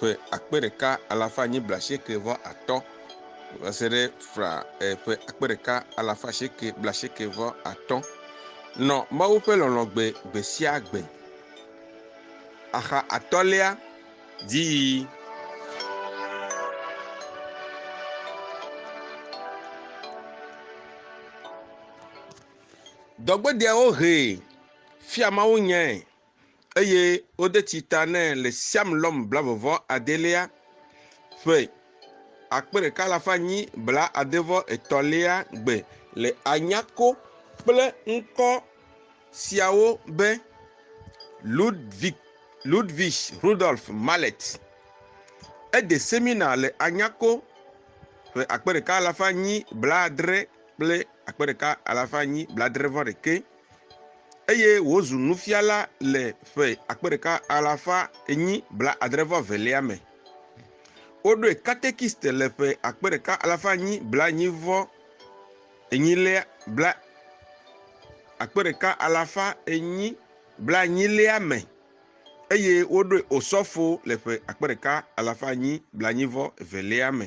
ƒe akpe ɖeka alafa enyi blaasieke vɔ atɔ̃ va se ɖe fra e, ƒe akpe ɖeka alafa asieke blaasieke vɔ atɔ̃. Nɔ Mawu ƒe lɔlɔ̃ gbe gbe sia gbe. Axa atɔ̃lia, dziyiyi. Dɔgbedeawo hee fia mawunyae. eye wode tsi ta nɛ le Siamlɔm blavevɔ adelia ƒe akpe ɖeka alafa nyi bla adevɔ etɔ̃lia gbe le anyako kple ŋkɔ siawo be Ludwig Ludwig Rudolf Mallet. Ede semina le anyako ƒe akpe ɖeka alafa nyi bla adre kple akpe ɖeka alafa nyi bla adre vɔ ɖekɛ. eye wòzu nufiala le ƒe akpe ɖeka alafa enyi blaadre-vɔ-evelia me. Woɖoe katekiste le ƒe akpe ɖeka alafa enyi blaenyi-vɔ-enyilia bla akpe ɖeka alafa enyi blaenyilia me eye woɖoe osɔfo le ƒe akpe ɖeka alafa enyi blaenyi-vɔ-evelia me.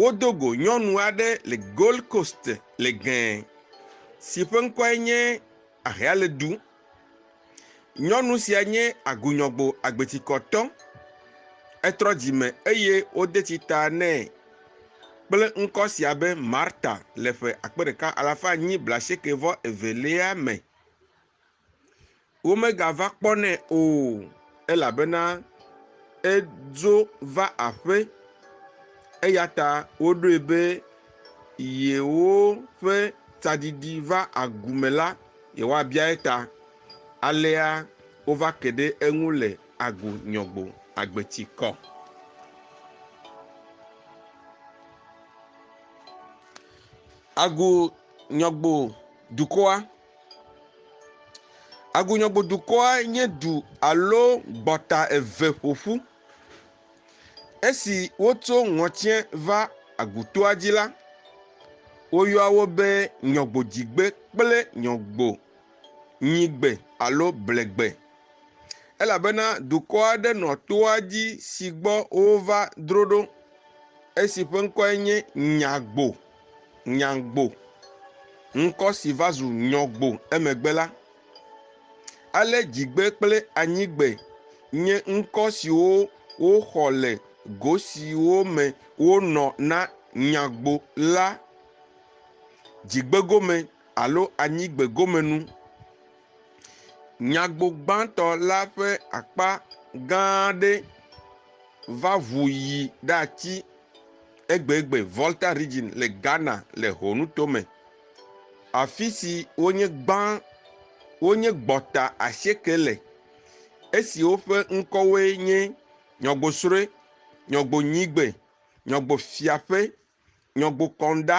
Wodo go nyɔnu aɖe le Gold Coast le gɛ si ƒe ŋkɔe nye Ahealedu. Nyɔnu sia nye agunyɔgbo agbetikɔtɔ. Etrɔ dzime eye wode tsi ta nɛ kple ŋkɔ sia be Marta le ƒe akpe ɖeka alafa enyi blaasieke vɔ evelia me. Womegava kpɔnɛ o, elabena edzo va aƒe, eya ta woɖoe be yewoƒe tsadidi va agu me la, yewoabia eta. Alea wova ke ɖe eŋu le Agbo Nyɔgbo agbeti kɔ. Agbo Nyɔgbo dukɔa. Agunyɔgodukɔa nye du alo gbɔta eve ƒo ƒu. Esi wotso ŋɔtiɛ va agutoa dzi la, woyɔa wo be nyɔgbodzigbe kple nyɔgbonyigbe alo blegbe. Elabena dukɔ aɖe nɔ toa dzi si gbɔ wova dro ɖo. Esi ƒe ŋkɔe nye Nyagbo. nyagbo, ŋkɔ si va zu nyɔgbo emegbe la. Ale dzigbe kple anyigbe nye ŋkɔ siwo woxɔ le go siwo me wonɔ na nyagbo la, dzigbegome alo anyigbegomenu. Nyagbo gbãtɔ la ƒe akpa gã aɖe va ʋu yi ɖatsi. egbegbe Volta Region le Ghana le Ho nuto me, afisi wonye gbã wonye gbɔta asieke le, esiwo ƒe ŋkɔwoe nye Nyɔgosroe, Nyɔgonyigbe, Nyɔgofiaƒe, Nyɔgokɔŋɖa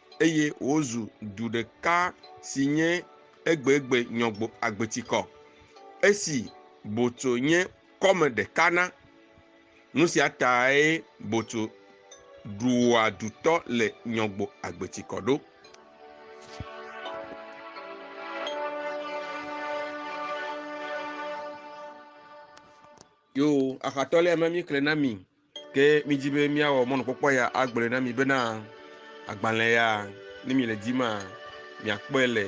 eye wozu du ɖeka si nye egbegbe nyɔgbo agbetikɔ. Esi Boto nye kɔme ɖeka na. Nu sia tae Boto ɖua dutɔ le nyɔgbo agbetikɔ ɖo. Yo, axatɔlia me mi kle na mi. Ke midi be míawɔ mɔnukpɔkpɔ ya agblɔe na mi bena agbalẽ ya, ne miele di ma, miakpɔe le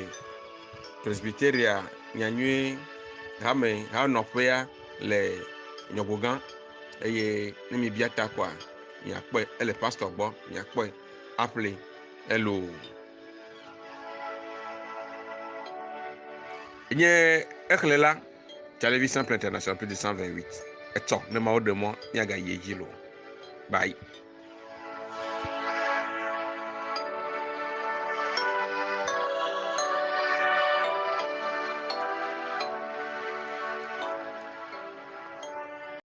Presbyteria nyanyuie hame ha nɔƒea le nyɔgogã eye ne mibia ta koa miakpɔe ele pastor gbɔ miakpɔe aƒle elo nye exlẽ la Télévision Plan International plus de 128 etsɔ ne mawo ɖe mɔ míagayi edzi lo. Bye.